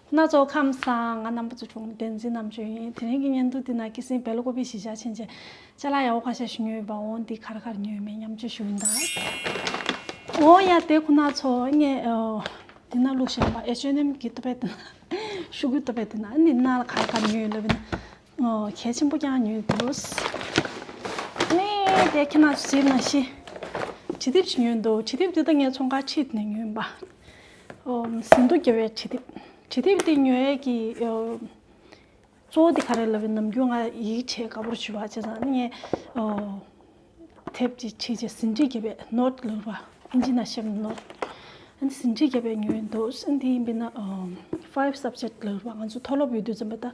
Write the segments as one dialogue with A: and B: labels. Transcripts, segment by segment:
A: སྣ་ཚོགས་ཁམས་བཟང་ང་རྣམ་པ་ཚོ་བྱུང་བསྟན་འཛིན་རྣམ་དཔྱོད་ཡིན་དེ་རིང་གི་བརྙན་ཐུང་འདི་ན་ཀི་སིན་བལ་ལོ་ཀོ་པི་གཞིས་ཆགས་ཆེན་བཅས་ཅཱ་ལ་ཡ་བོ་ཁ་ཤས་ཤི་ཉོས་པ་འོང་འདི་གར་གར་ཉོས་མེད་སྙམ་བརྗོད་ཞུ་གིན་གདའ། འོ་ཡ་དེ་ཁོ་ན་ཚོ་ངས་འདི་ན་ལུགས་བཤད་པ་ཨེ་བཅོས་ནམ་གི་ཏོ་པེ་ཏི་ན་ཤུ་གུ་ཏོ་པེ་ཏི་ན་འདི་ན་ལ་གར་གར་ཉོས་ལབ་ན་གལ་ཆེན་པོ་ཀྱང་ཉོས་འདུག་ཨེ་དེ་ཁྱེད་ན་ཚོ་ཟིན་ན་ཤི་ཁྲི་ཐིབ་ཅིག་ཉོས་འདུག་ཁྲི་ཐིབ་འདི་ད་ངས་ཚོང་ཁང་ཁྲིད་ནས་ཉོས་པ་ཟིན་ཐོ་འགེལ་བའི་བྱེད་ཐབས། བྱེད་ཐབས་དེ་ཉོ་ཡས་ཀྱི་གཙོ་བོ་དེ་ག་རེད་ལབ་པའི་ནམ་རྒྱུན་ང་ཡིད་ཆེས་དགའ་པོར་ཞུ་བ་བྱས་ཙང་ངས་ཐེབས་ཀྱི་ཆེད་ཀྱི་ཟིན་བྲིས་འགེལ་པའི་ནོར་ལོན་པ། ཨིན་ཇི་ན་ཤེས་པའི་ནོར། ཟིན་བྲིས་འགེལ་པའི་ཉོ་ཡའི་ནོར། དེ་ཡིན་པས་ན five subject ལོན་པ་ང་ཚོ་མཐོ་སློབ་ཡོད་དུས་ཙམ་པ་ད།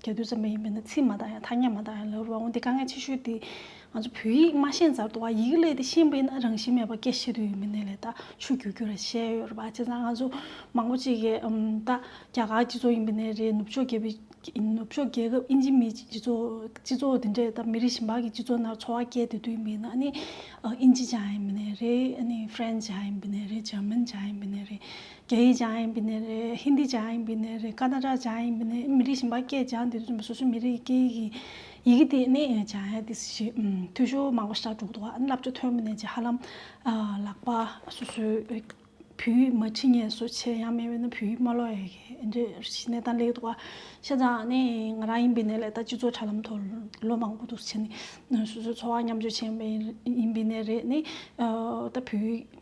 A: རྒྱ་རྡུལ་ཙམ་མ་ཡིན་པས་ན་ཚིག་མ་བཏགས་ཡང་ཐ་སྙད་མ་བཏགས་ཡང་ལབ་རུང་བ་འོན་ཏེ་དཀའ་ངལ་ཆེ་ཤོས་དེ་ང་ཚོ་བོད་ཡིག་མ་ཤེས་མཛར་དུ་བ་ཡིག་ལས་དེ་ཤེས་པས་ན་རང་བཞིན་མེད་པ་སྐད་བཤད་དུས་ཡོད་མི་གནས་ལས་ད་ཆུ་རྒྱུག་རྒྱུ་ར་བཤད་ཡོད་རེད་པ་བྱས་ཙང་ང་ཚོ་མང་པོ་ཅིག་གིས་ད་རྒྱ་གར་སྤྱི་ཚོགས་ཡིན་པས་ན་རེད་ནུབ་ཕྱོགས་རྒྱལ་པོའི་ནུབ་ཕྱོགས་རྒྱལ་ཁབ་ཨིན་ཇི་མི་སྤྱི་ཚོགས་སྤྱི་ཚོགས་དེ་འདྲས་ད་མི་རིགས་གཞན་པ་གི་སྤྱི་ཚོགས་ནང་འཚོ་བ་སྐྱལ་དེ་དུས་ཡིན་པས་ན་ཨ་ནི་ཨིན་ཇི་བྱ་ཡིན་པས་ན་རེད་ཨ་ནི་ཧྥེ་རན་བྱ་ཡིན་པས་ན་རེད་ཇར་མན་བྱ་ཡིན་པས་ན་རེད་རྒྱ་ཡིག་སྦྱང་ཡིན་པའི་གནས་རེད། ཧིན་རྡི་སྦྱང་ཡིན་པའི་གནས་རེད། ཀ་ན་ར་སྦྱང་ཡིན་པའི་གནས་རེད། མི་རིགས་གཞན་པ་སྐད་སྦྱང་དེ་སོ་སོའི་མི་རིགས་ཀྱི་སྐད་ཡིག་ཡི་གེ་དེ་ནི་སྦྱང་ཡ་དེ་ཞིག་འཐུས་ཤོར་མང་པོ་ཞིག་འགྲོ་འདུག་བསླབ་བྱ་ཐོན་པ་ནས་ཀྱི་ཧ་ལམ་ལག་པ་སོ་སོའི་བོད་ཡིག་མ་ཁྲིད་ངེས་སོ་ཆེ་ཡང་མེད་པས་ན་བོད་ཡིག་མ་ཀློག་ཡ་གི་འདི་གནས་སྟངས་ལེགས་འདུག་བ། ཤ་ཚང་ནི་ང་རང་ཡིན་པའི་གནས་ལས་ད་སྤྱི་ཚོགས་དྲ་ལམ་ཐོག་ལོ་མང་པོ་འདུག་ཆེ་ནི་སོ་སོའི་འཚོ་བ་མཉམ་སྤྱོད་བྱེད་ཡིན་པའི་གནས་རེད་ནི་ད་བོད་ཡིག།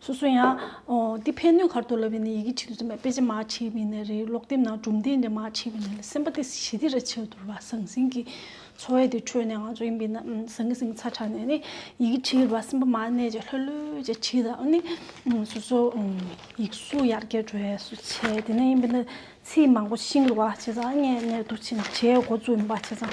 A: སོ་སོ་ཡང། འདི་ཕན་གནོད་གར་དུ་ལབ་པའི་ནི་ཡི་གེ་ཁྲིད་དུ་འཛིན་པ་དཔེ་ཆ་མ་མཆིས་པས་ནི་རེ་ལོག་སྡེབས་ན་གྲུབ་མཐའི་འདི་མ་མཆིས་པས་ནི་སེམས་པ་དེ་ཞི་བདེ་ར་ཆེར་འདོར་བ་ཟང་ཟིང་གི་འཚོ་བའི་དེ་ཁྲོད་ནས་ང་ཚོ་ཡིན་པས་ན་ཟང་ཟིང་ཚ་དྲགས་ནས་ནི་ཡི་གེ་ཁྲིད་པ་སེམས་པ་མ་གནས་ཀྱི་ལྷོད་ལྷོད་ཀྱི་ཁྲིད་དང་ནི། སོ་སོ་ཡིག་གཟུགས་ཡར་རྒྱས་འགྲོ་བའི་སུ་བྱས་དེ་ནས་ཡིན་པས་ན་ཚིག་མང་པོ་ཤིང་རུ་བ་བྱས་ཙང་ལྔས་གནད་དུ་ཕྱིན་བྱའི་འགོ་བཙུགས་ཡིན་པ་བྱས་ཙང།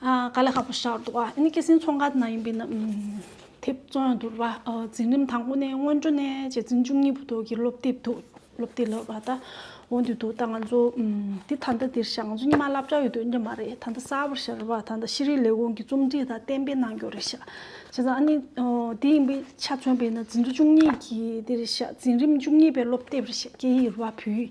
A: དཀའ་ལས་ཁག་པོ་བཞག་འདུག་ཨ་ནི་སྐྱེད་སྲིང་ཚོང་ཁང་དེ་ནང་ཡིན་པའི་ན་དེབ་བཙོང་ཡང་འདུག་ལ་འཛིན་རིམ་དང་པོ་ནས་སྔོན་འགྲོ་ནས་རྗེ་བཙུན་བཅུ་གཉིས་པོ་དག་གི་སློབ་དེབ་འདུག་སློབ་དེབ་ལ་བ་ད་འོང་དུས་འདུག་ད་ང་ཚོ་འདི་ད་ལྟ་འདིར་བཞག་ང་ཚོ་ཉི་མ་བསླབ་བྱ་ཡོད་དུས་ཡིན་གྱི་མ་རེད་ད་ལྟ་གསར་བར་བཞག་རེ་བ་ད་ལྟ་ཤེས་རིག་ལས་ཁུངས་ཀྱི་རྩོམ་སྒྲིག་དང་གཏན་འབེབས་གནང་རྒྱུར་རེ་བཞག་བྱས་ཙང་ཨ་ནི་འདི་ཡིན་པའི་ཆ་མཚོན་པའི་ན་འཛིན་དུ་བཅུ་གཉིས་ཀྱི་འདིར་བཞག་འཛིན་རིམ་བཅུ་གཉིས་པའི་སློབ་དེབ་རེ་བཞག་སྐད་ཡིག་རེ་བ་བོད་ཡིག་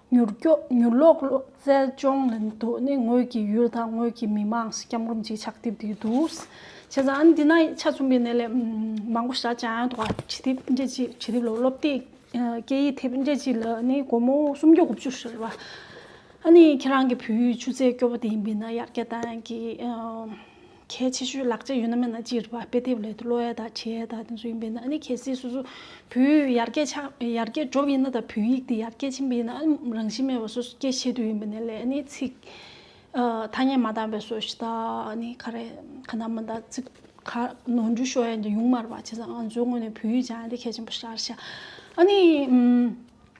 A: མྱུར་སྐྱོབ་མྱུར་ཀློག་གློག་རྩལ་སྦྱོང་ལེན་དུ་ནི་ངོས་ཀྱི་ཡུལ་དང་ངོས་ཀྱི་མི་དམངས་སུ་སྐྱབས་འགོམ་གྱི་ཕྱག་དེབ་དེ་འདུག། བྱས་ཙང་འདི་ན་ཆ་མཚུངས་པའི་གནས་ལས་མང་པོ་བཞག་ཀྱང་ཡང་དག་པ་བྱེད་ཐེབས་འབྲས་ཀྱི་བྱེད་ཐེབས་ལ་སློབ་དེབ་སྐད་ཡིག་ཐེབས་འབྲས་ཀྱི་ལ་ནི་སྒོར་མོ་སུམ་ཅུ་དགུ་བཅུ་ཞེས་རེད་པ། ཨ་ནི་ཁྱེད་རང་གི་བོད་ཡུལ་ཆུ་ཚད་སྐྱོ་བོ་དེ་ཡིན་པས་ན་ཡར་རྒྱས་གཏང་གི། གལ་ཆེ་ཤོས་ལག་ཆ་ཡོད་ན་མེད་ན་སྤྱིར་བ་དཔེ་དེབ་ལས་གློ་ཡ་དང་བྱེ་ཡ་དང་དེ་ཚོ་ཡིན་པས་ན་ཨ་ནི་གལ་སྲིད་སོ་སོ་བུའི་ཡར་སྐྱེས་ཆགས་ཡར་སྐྱེས་གྲོབ་ཡིན་ན་དང་བུའི་ཡིག་དེ་ཡར་སྐྱེས་ཆེན་པོ་ཡིན་ན་ཨ་ནི་རང་བཞིན་མེད་པ་སོ་སོ་སྐྱེ་ཤེས་དུས་ཡིན་པ་ནས་ལས་ཨ་ནི་ཚིག་ཐ་སྙད་མ་དག་པའི་སོ་ཤི་དག་ཨ་ནི་ག་རེ་ག་ན་མ་དག་ཚིག་ག་ནོར་འཇུག་ཤོར་ཡ་ཡིན་ཀྱང་ཡུང་མར་བ་བྱས་ཙང་ང་ཚོའི་ངོས་ནས་བུའི་ཡིག་ཆ་ཨ་ནི་གལ་ཆེན་པོ་ཤར་ཤ་ཨ་ནི་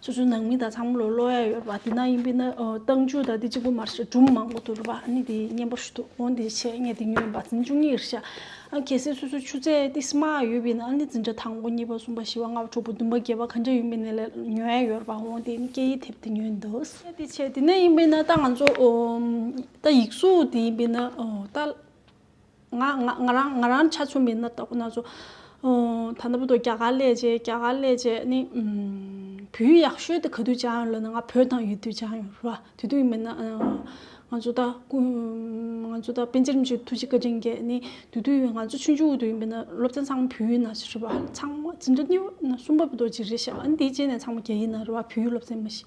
A: སོ་སོའི་ནང་མི་དང་ཚང་མ་ལོ་ཀློག་ཡ་ཡོད་པ་དེ་ན་ཡིན་པས་ན་བཏང་འཇུག་དང་དེ་གཅིག་པོ་མ་རེད་སྒྲུང་མང་པོ་འདུག་རེད་པ་ནི་དེ་སྙན་པོ་ཞུ་འདུག་འོན་ཏེ་ཆེད་ངས་དེ་ཉོས་ཡིན་པ་འཛིན་བཅུ་གཉིས་རེད་ཤག་ཨ་གལ་སྲིད་སོ་སོའི་ཆུ་ཚད་ཏི་སི་མ་ཡོད་པས་ན་ནི་འཛིན་གྲྭ་དང་པོ་གཉིས་པ་གསུམ་པ་བཞི་བ་ལྔ་བ་དྲུག་པ་བདུན་པ་བརྒྱད་པ་ག་འདྲ་ཡིན་པའི་ནི་ལས་ཉོ་ཡ་ཡོད་རེད་པ་འོན་ཏེ་ནི་སྐད་ཡིག་དེབ་དེ་ཉོས་ཡིན་འདུག་གལ་ཏེ་ཆེད་དེ་ན་ཡིན་པས་ན་ད་ང་ཚོ་ད་ཡིག་གཟུགས་དེ་ཡིན་པས་ན་ད། ང་རང་ང་རང་ཆ་ཚུགས་མིན་ན་དག་ན་ཚོ། ད་ནང་བོད་རྒྱ་གར་ལས་བྱེད་རྒྱ་གར་ལས་བྱེད་ནི། བོད་ཡག་ཤོས་དེ་ག་དུས་བྱ་ཡོང་ལོ་ན་ང་བོད་དང་ཡོད་དུས་བྱ་ཡོང་རུ་བ་དུས་དུས་མིན་ན། ང་ཚོ་ད་སྐུ་ང་ཚོ་ད་པན་ཆེ་རིམ་བྱོན་ཐུགས་རྗེ་བཀའ་དྲིན་རྒྱས་ནི་དུས་དུས་ཡོད་ང་ཚོ་ཆུང་ཆུང་དུས་མིན་ན་སློབ་ཚན་ཚང་མ་བོད་ཡིན་ན་ཞེས་རུ་བ་ཚང་མ་ཅི་འདྲ་སྙི་བ་ན་གསུམ་པ་བོད་རྡོ་རྗེ་རེད་ཤག་ཨ་ནི་དེའི་རྗེས་ནས་ཚང་མ་རྒྱ་ཡིན་ན་རུ་བ་བོད་ཡིག་སློབ་ཚན་མི་ཤེས།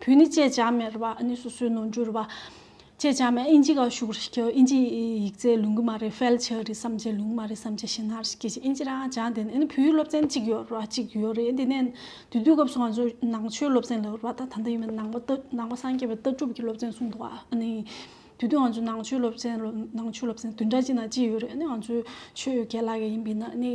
A: བུ་ནི་ཅེ་ཅཱ་མེར་བ་ནི་སོ་སོའི་ནོར་འགྱུར་བ། ཅེ་ཅཱ་མེར་ཨིན་ཇི་ག་ཤུག་རི་ཀྱི་ཨིན་ཇི་ཡིག་རྩལ་ལུང་གི་མ་རི་ཧྥལ་ཆི་རི་བསམ་ཆེ་ལུང་མ་རི་བསམ་ཆེ་ཤིན་ཧ་རི་སྐད་ཆེ་ཨིན་ཇི་ར་ཨ་ཅཱ་འདི་ནི་ཨིན་བུའི་སློབ་ཚན་གཅིག་ཡོད་ར་གཅིག་ཡོད་རེད་འདི་ནས་དུས་དུས་སྐབས་སུ་ང་ཚོས་ནང་ཆོས་སློབ་ཚན་ལ་ཡོད་ར་ད་ད་འདི་ཡིན་པ་ནང་པ་ཏི་ནང་པ་སངས་རྒྱས་པའི་ལྟ་གྲུབ་ཀྱི་སློབ་ཚན་གསུངས་འདུག་ཨ་ནི། དུས་དུས་ང་ཚོས་ནང་ཆོས་སློབ་ཚན་ལོ་ནང་ཆོས་སློབ་ཚན་དུས་འདྲ་གཅིག་ན་གཅིག་ཡོད་རེད་ཨ་ནི་ང་ཚོས་ཆོས་ཡོད་ག་ལ་ག་ཡིན་པའི་ནི་ཨ་ནི།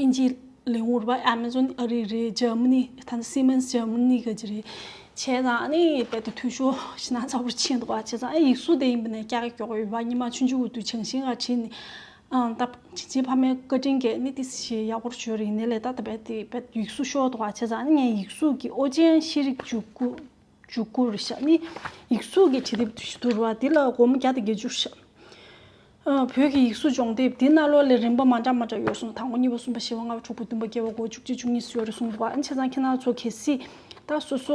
A: ཨིན་ཇི་ལིང་ཝུར་བ་ཨེ་མེ་ཟོན་ཨ་རི་རེད་ཇར་མི་ནི་ད་ནི་སི་མེན་སི་ཇར་མི་ནི་ག་ཅི་རེད། བྱས་ཙང་ནི་དཔེ་དང་འཐུས་ཤོར་ཤི་ན་ཚ་བོར་ཕྱིན་འདུག་བ་བྱས་ཙང་ཡིག་གཟུགས་དེ་ཡིན་པ་ནས་ཀྱག་ཀྱོག་ཡོད་བ་ཉི་མ་ཆུང་ཆུང་འུར་དུ་ཆང་ཤིང་ལ་བྲིས་ནས་ཨང་ད་བྱིན་ཆེན་ཕ་མའི་བཀའ་དྲིན་གྱིས་ནི་ཏི་སི་ཞེས་ཡག་པོར་བྱོས་རིག་ནས་ལས་ད་ད་བས་དེ་བས་ཡིག་གཟུགས་ཤོར་འདུག་བ་བྱས་ཙང་ནི་ངའི་ཡིག་གཟུགས་ཀྱི་ཨོ་རྒྱན་ཤེས་རིག་འཇུག་སྐུ། འཇུག་བསྐུར་བྱ། ནི་ཡིག་གཟུགས་ཀྱི་བྲི་དེབ་བསྡུར་བ་འདི་ལ་སྒོར་མོ་བརྒྱ་དང་བརྒྱད་ཅུར་བཞག། བོད་ཀྱི་ཡིག་གཟུགས་སྦྱོང་དེབ་འདི་རྣ་ལོག་ལས་རིམ་པ་མ་འདྲ་མ་འདྲ་ཡོད་གསུངས་དང་པོ་གཉིས་པ་གསུམ་པ་བཞི་བ་ལྔ་བ་དྲུག་པ་བདུན་པ་བརྒྱད་པ་དགུ་བ་བཅུ་གཅིག་བཅུ་གཉིས་སུ་ཡོད་རེ་གསུངས་འདུག་པ་ཨེ་འཆད་ཙང་ཁྱེད་རང་ཚོ་གལ་སྲིད་ད་སོ་སོ་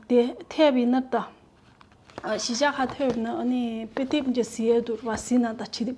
A: དེ་ཐེབ་ཡིན་ན་ད་གཞི་ཆགས་ཁ་ཐོབ་ན་ནི་དཔེ་དེབ་འདྲ་བཟི་ཡས་འདུར་བ་བཟི་ན་ད་བྲི་དེབ་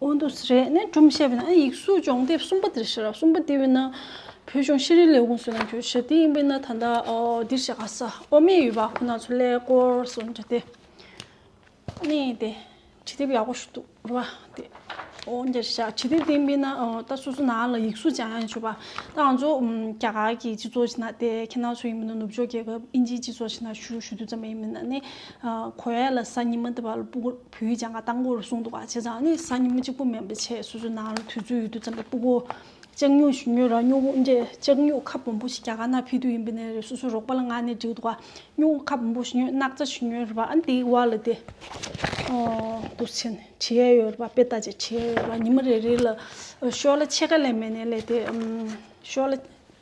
A: ཨོ་འདུ་སི་རེད་ནས་སྒྲུང་བཤད་པའི་ནང་ཡིག་གཟུགས་སྦྱོང་དེབ་གསུམ་པ་འདིར་བཞག་གསུམ་པ་འདི་བས་ན་བོད་ལྗོངས་ཤེས་རིག་ལས་ཁུངས་སུ་ནང་ཁུལ་ཞབས་འདེགས་ཡིན་པས་ན་ད་ལྟ་འདིར་བཞག་ག་ས་འོག་མས་ཡོད་པ་ཁོ་ན་ཚོ་ལས་སྐོར་སོགས་འབྲི་སྟེ་གནས་ཏེ་བྲིས་དེབ་ཡག་པོ་ཞིག་འདུག་འགྲོ་བ་དེ་འོ་འདིར་བཞག་བྲིས་དེབ་འདི་བས་ན་ད་སོ་སོ་ནང་ལ་ཡིག་གཟུགས་སྦྱང་ཡང་བྱོས་པ་ད་ང་ཚོ་རྒྱ་གར་གྱི་སྤྱི་ཚོགས་ཆེ་ན་དེ་ཁྱེད་ནང་ཚོ་ཡིན་པས་ན་ནུབ་ཕྱོགས་རྒྱལ་ཁབ་ཨིན་ཇིའི་སྤྱི་ཚོགས་ཆེ་ན་ཞུ་ཞུ་དུས་ཙམ་ཡིན་པས་ན་ནི་གོ་ཡ་ལ་ས་ཉི་མ་འདི་བ་ལ་སྤུ་གུར། བོད་ཡིག་སྦྱང་ཁ་སྟངས་སྐོར་གསུངས་འདུག་བྱས་ཙང་ནི་གཟའ་ཉི་མ་གཅིག་པོ་མེད་པའི་ཆེད་སོ་སོའི་ནང་ལ་དུས་ཚོད་ཡོད་དུས་ཙམ་རེ་སྤུ་གོ། ལྕགས་སྨྱུག་ཞུ་སྨྱུག་ར་སྨྱུག་འབྲས་ལྕགས་སྨྱུག་ཁ་སྦོམ་པོ་ཞིག་རྒྱ་གར་ནང་ཕེབས་དུས་ཡིན་པའི་ནས་རེད་སོ་སོའི་རོགས་པ་ལ་ངག་ནས་འདྲིའུ་འདུག་བ་སྨྱུག་ཁ་སྦོམ་པོ་ཞུ་སྨྱུག་སྣག་ཚ་ཞུ་སྨྱུག་རེད་བ་ཨ་འདིའི་བར་ལ་དེ། འདུག་བྱས་ནས་བྲིས་ཡས་ཡོད་རེད་བ་དཔེ་ལྟ་བྱས་བྲིས་ཡས་ཡོད་རེད་བ་ཉི་མ་རེ་རེ་ལ། ཤོག་ལ་ཕྱེད་ཀ་ལས་མེད་ནས་ལས་དེ། ཤོག་ལ།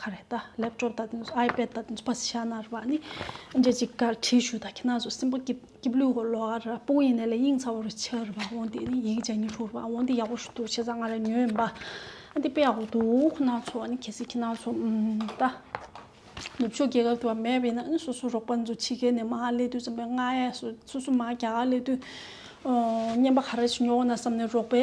A: ཁ་རེད་ད་ལེབ་ཀྲོབ་ད་དེ་ཨའི་པེད་ད་དེ་བསི་ཤ་ནར་བ་ནི་འདྲེ་ཅིག་ཀ་ཁྲི་ཞུ་ད་ཁྱི་ན་ཟུ་སིན་པོ་ཀིབ་ཀིབ་ལུས་ཧོ་ལོ་ཨར་ར་པུའུ་ཡིན་ནེ་ལེ་དབྱིངས་ཚ་བོ་རུ་ཆི་རུ་བ་འོང་དེ་ནི་ཡིག་ཅ་ཉི་ཧྲུ་རུ་བ་འོང་དེ་ཡག་པོ་ཞུ་འདུག་ཆེ་ས་ང་རེ་ཉོས་འབའ་ཨ་དེ་པེ་ཡག་པོ་འདུག་ཁོ་ན་ཚོ་ཨ་ནི་ཁྱི་སི་ཁྱི་ན་ཚོ་ད་ནུབ་ཕྱོགས་རྒྱལ་ཁབ་དུ་བ་མེད་པེ་ན་ཨ་སོ་སོ་རོག་པ་འཛུ་ཆི་ཁེ་ནེ་མ་ཧ་ལེ་དུས་ཙམ་པེ་ང་ཨེ་སོ་སོ་སོ་མ་ག་ཨ་ལེ་དུས་ཨོ་ཉན་པ་ཁ་རེ་ཆི་ཉོ་ཨོ་ན་བསམ་ནེ་རོག་པེ་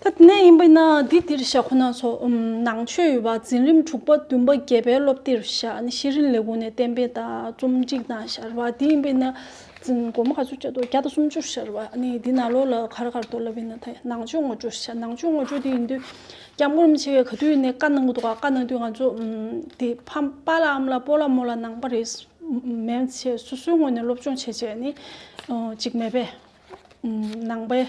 A: ཐ་སྙད་ཡིན་པ་ཡིན་ན་འདི་འདིར་བཞག་ཁོ་ན་སོགས་ནང་ཆོས་ཡོད་པ་འཛིན་རིམ་དྲུག་པ་བདུན་པ་བརྒྱད་པའི་སློབ་དེབ་བཞག་ནས་ཤེས་རིག་ལས་ཁུངས་ནས་གཏན་འབེབས་དང་རྩོམ་སྒྲིག་དང་བཞག་པ་འདི་ཡིན་པ་ཡིན་ན་འཛིན་སྒོར་མོ་ག་ཚོད་བཅའ་དོ་བརྒྱ་དང་སུམ་ཅུར་བཞག་པ་ནི་འདི་ནང་ལོགས་ལ་གར་གར་དུ་ལབ་ཡིན་ན་ཐ་ནང་ཆོས་ངོ་སྤྲོད་བཞག་ནང་ཆོས་ངོ་སྤྲོད་དེ་ཡིན་དུས་སྐྱབས་མགོན་རིན་པོ་ཆེ་ག་དུས་ནས་བཀའ་གནང་གི་འདུག་བཀའ་གནང་དུས་ང་ཚོ་དེ་ཕམ་པ་ལ་འམ་ལ་པོ་ལ་མོ་ལ་གནང་པ་རེད་མན་ཆད་སོ་སོའི་ངོས་ནས་སློབ་སྦྱོང་བྱེད་བྱས་ནི་ཅིག་མེད་པས་ནང་པའི་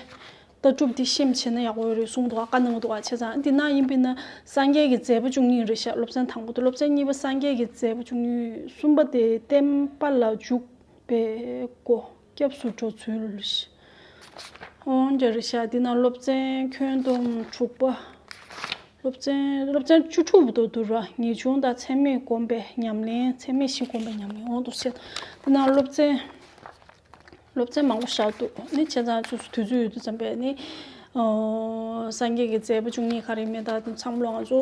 A: ལྟ་གྲུབ་འདི་ཤེས་མི་ཤེས་ན་ཡག་པོ་རེད་གསུངས་འདུག་བཀའ་གནང་འདུག་བ་ཆ་ཚང་འདི་ནང་ཡིན་པས་ན་སངས་རྒྱས་ཀྱི་མཛད་པ་བཅུ་གཉིས་རེད་ཤག་སློབ་ཚན་དང་པོ་དང་སློབ་ཚན་གཉིས་པ་སངས་རྒྱས་ཀྱི་མཛད་པ་བཅུ་གཉིས་གསུམ་པ་དེ་བསྟན་པ་ལ་འཇུག་པའི་སྒོ་སྐྱབས་སུ་འགྲོ་ཚུལ་ཨོང་རྒྱ་རེད་ཤག་འདི་ནང་སློབ་ཚན་ཁྱོན་བསྡོམས་དྲུག་པ་སློབ་ཚན་སློབ་ཚན་བཅུ་དྲུག་པ་དང་བསྡུར་བ་ངེས་འབྱུང་དང་ཚད་མེད་སྒོམ་པའི་ཉམས་ལེན་ཚད་མེད་བཞི་སྒོམ་པའི་ཉམས་ལེན་ཨོང་དུ་བཤད་འདི་ནང་སློབ་ཚན། སློབ་ཚན་མང་པོ་བཞག་འདུག་ནི་ཁྱེད་ཚང་ཚོས་དུས་ཚོད་ཡོད་དུས་འཚམས་པས་ནི་སངས་རྒྱས་ཀྱི་མཛད་པ་བཅུ་གཉིས་ག་རེ་མེད་ད་དུང་འཚམས་ལོ་ང་ཚོ་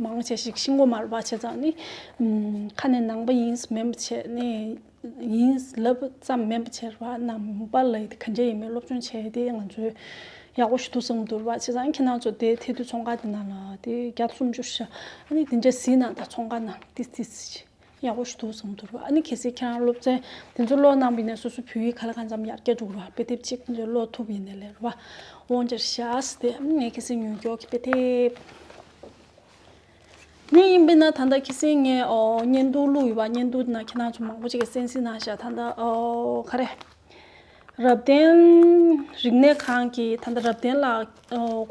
A: མང་ཆེ་ཞིག་ཤིང་སྒོ་མར་བ་ཆེ་ཙང་ནི་ཁ་ནས་ནང་པ་ཡིན་སྨན་པ་ཆེ་ནི་ཡིན་ལབ་ཙམ་སྨན་པ་ཆེར་བ་ནང་པ་ལ་ཡི་དེ་ག་འདྲ་ཡིན་མིན་སློབ་སྦྱོང་བྱས་དེ་ང་ཚོས་ཡག་པོ་ཞིག་ཐུགས་བསམ་དུར་བ་ཆེ་ཙང་ཁྱེད་ནང་ཚོ་དེ་ཐེ་དུས་ཚོང་ཁ་དེ་ནང་ལ་དེ་བརྒྱ་སུམ་ཅུ་ཞག་ནི་དེ་འདྲ་ཟིན་ན་ད་ཚོང་ཁ་ནང་ཏིས་ཏིས་ཡག་པོ་ཞིག་འདུག་བཟང་འདུག་རོ་ཨ་ནི་གལ་སྲིད་ཁྱེད་རང་སློབ་ཚན་དེ་ཚོ་ཀློག་གནང་པའི་ནས་སོ་སོའི་བོད་ཡིག་ག་ལ་གང་འཚམ་ཡར་རྒྱས་འགྲོ་གི་རོ་དཔེ་དེབ་གཅིག་དེ་ཚོ་ཀློག་ཐུབ་ཡིན་ནའི་ལེ་རོ་བ་འོང་འདྲ་ཤ་ཟ་དེ་ངས་ཁྱེད་སེམས་མྱུར་མགྱོགས་ཀྱི་དཔེ་དེབ་ཉོས་ཡིན་པས་ན་ད་ལྟ་ཁྱེད་སེམས་ངས་བརྙན་ཐུང་བླུགས་ཡོད་པ་བརྙན་ཐུང་དེ་ན་ཁྱེད་རང་ཚོ་མང་པོ་ཅིག་གི་སེམས་གཟིགས་གནང་ཤག་ད་ལྟ་ག་རེ། རབ་བརྟན་རིག་གནས་ཁང་གི་ད་ལྟ་རབ་བརྟན་ལགས་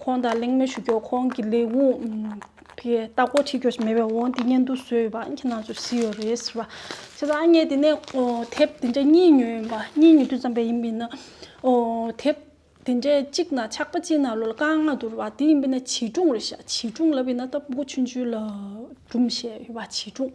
A: ཁོང་དང་གླེང་མོལ་ཞུ་རྒྱུར་ཁོང་གི་ལས་ཁུངས་དེ་ལྟ་སྐོར་དྲི་རྒྱོ་ཞིག་མེད་པའི་འོང་དེ་སྙན་ཐུང་བཟོས་ཡོད་པ་ཨང་ཀི་ནང་ཚུད་བཟི་ཡོད་རེད་ཟེར་བ། བྱས་ཙང་ཨ་མྱེས་དེ་ནས་དེབ་དེ་འདྲ་གཉིས་ཉོས་ཡིན་པ་གཉིས་ཉོ་དུས་ཙམ་པས་ཡིན་པས་ན། དེབ་དེ་འདྲའི་གཅིག་ན་ཆགས་པ་གཅིག་ན་ལོ་ལ་རྐང་ལྔ་བསྡུར་བ་དེ་ཡིན་པས་ན་བྱིས་སྒྲུང་རེད་བྱས་བྱིས་སྒྲུང་ལབ་ཡིན་ན་སྟབས་མགོ་ཆུང་ཆུང་ལ་སྒྲུང་བཤད་ཡོད་པ་བྱིས་སྒྲུང།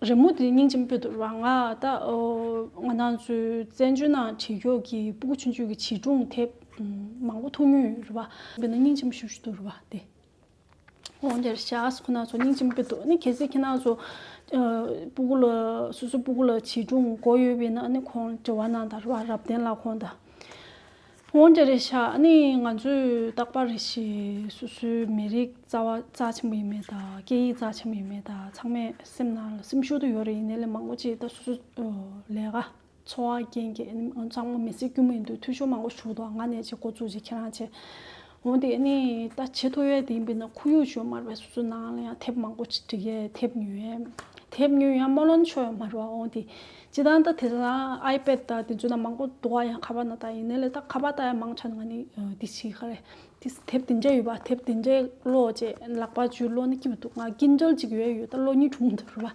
A: རི་མོ་དེ་སྙིང་ཅན་པོད་དུ་རང་ང་ད་ང་ནང་ཚོའི་བཙན་བྱོལ་ནང་བྲིས་ཁྱོག་གི་སྤུ་གུ་ཆུང་ཆུང་གི་བྱིས་སྒྲུང་དེ་མང་པོ་ཐུག་མྱོང་ཡོད་རེད་བ། དཔེར་ན་སྙིང་ཅན་པོ་ཤུག་ཤུག་ཏུ་རེད་བ་དེ། འོན་ཀྱང་རི་ཤག་སོགས་ཁོ་ནང་ཚོ་སྙིང་ཅན་པོད་དུ་གལ་སྲིད་ཁྱེད་ནང་ཚོ་སྤུ་གུ་ལ་སོ་སོའི་སྤུ་གུ་ལ་བྱིས་སྒྲུང་གོ་ཡོད་པས་ན་ཁོང་བྲི་བ་ནང་ད་རེད་བ་རབ་བརྟན་ལགས་ཁོང་ད། འོན་ཀྱང་རེད་ཤག་ནི་ང་ཚོས་རྟག་པར་རེད་ཤེས་སུ་སུའི་མི་རིགས་རྩ་བ་རྩ་ཆེན་པོ་ཡིན་མེད་དང་སྐད་ཡིག་རྩ་ཆེན་པོ་ཡིན་མེད་དང་ཚང་མས་སེམས་ན་སེམས་ཤུགས་དུ་ཡོད་རེད་ཡིན་ནའི་ལས་མང་པོ་བྱས་ད་སུ་སུ་ལས་ཀ་འཚོ་བ་རྐྱེན་གྱིས་ཚང་མ་མི་སེར་དཀྱུས་མ་ཡིན་དུས་འཐུས་ཤོར་མང་པོ་བྱུང་འདུག་ང་ནས་ཅིག་འགོ་བཙུགས་རྗེས་ཁྱེད་རང་ཆེ་འོན་ཏེ་ནི་ད་ཆེས་མཐོ་བའི་དེའི་དཔེ་ན་ཁོར་ཡུག་བཅོས་མར་བའི་སོ་སོའི་ནང་ལ་ཡང་ཐེབས་མང་པོ་ཅི་ཅི་ཡས་ཐེབས་ཉུལ་ཡས་ཐེབས་ཉུལ་ཡང་སྨོན་ལམ་ཆོས་མར་བ་འོན་ཏེ་ཅི་དང་ད་དེ་ན་ཨའི་པད་ད་དེ་ཚོས་ན་མང་པོ་དུ་བ་ཡང་ཁ་བ་ན་ད་ཡིན་ནས་ལས་ད་ཁ་བ་ད་ཡང་མང་ཆ་ནང་ནི་དེ་ཕྱིའི་ཁ་རེ་དེ་ཐེབས་དེ་འདྲས་ཡོད་པ་ཐེབས་དེ་འདྲས་བློ་བཅས་ལག་པ་ཅུའི་བློ་ནི་སྐྱིད་པ་འདུག་ང་སྐྱིད་འཇལ་ཅིག་ཡོད་ཡོད་ད་བློ་གཉིས་གྲུང་འདུག་རེ་བ།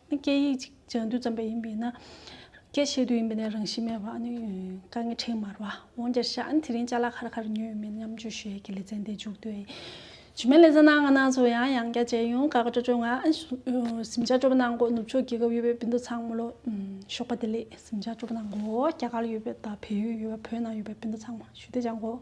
A: སྐད་ཡིག་ཅིག་སྦྱང་དུས་ཙམ་པས་ཡིན་པས་ན། སྐད་བཤད་དུས་ཡིན་པས་ན་རང་བཞིན་མེད་པ་ནི་དཀའ་ངལ་ཕྲན་མར་བ། འོན་ཀྱང་ཞག་ནི་དེ་རིང་ལྕགས་ལ་ཁར་ཁར་ཉོས་ཡོད་མེད་མཉམ་སྤྱོད་ཞོལ་གྱི་ལེ་ཚན་དེ་མཇུག་བསྡུས། ཇི་མའི་ལེ་ཚན་ནང་ང་ནང་ཚོ་ཡང་ཡང་བསྐྱར་མཇལ་ཡོང་དགའ་དགའ་སྤྲོ་སྤྲོ་ངང་གཟིམ་ཆ་སྤྲོ་པོ་གནང་དགོས་ནུབ་ཕྱོགས་རྒྱལ་ཁབ་ཡོད་པའི་སྤུན་ཟླ་ཚང་མོ་ལོ་ཞོགས་པ་དེ་ལས་གཟིམ་ཆ་སྤྲོ་པོ་གནང་དགོས་རྒྱ་གར་ཡོད་པའི་དང་བལ་ཡུལ་ཡོད་པ་བོད་ནང་ཡོད་པའི་སྤུན་ཟླ་ཚང་མོ་ཞུ་བདེ་སྦྱང་དགོས།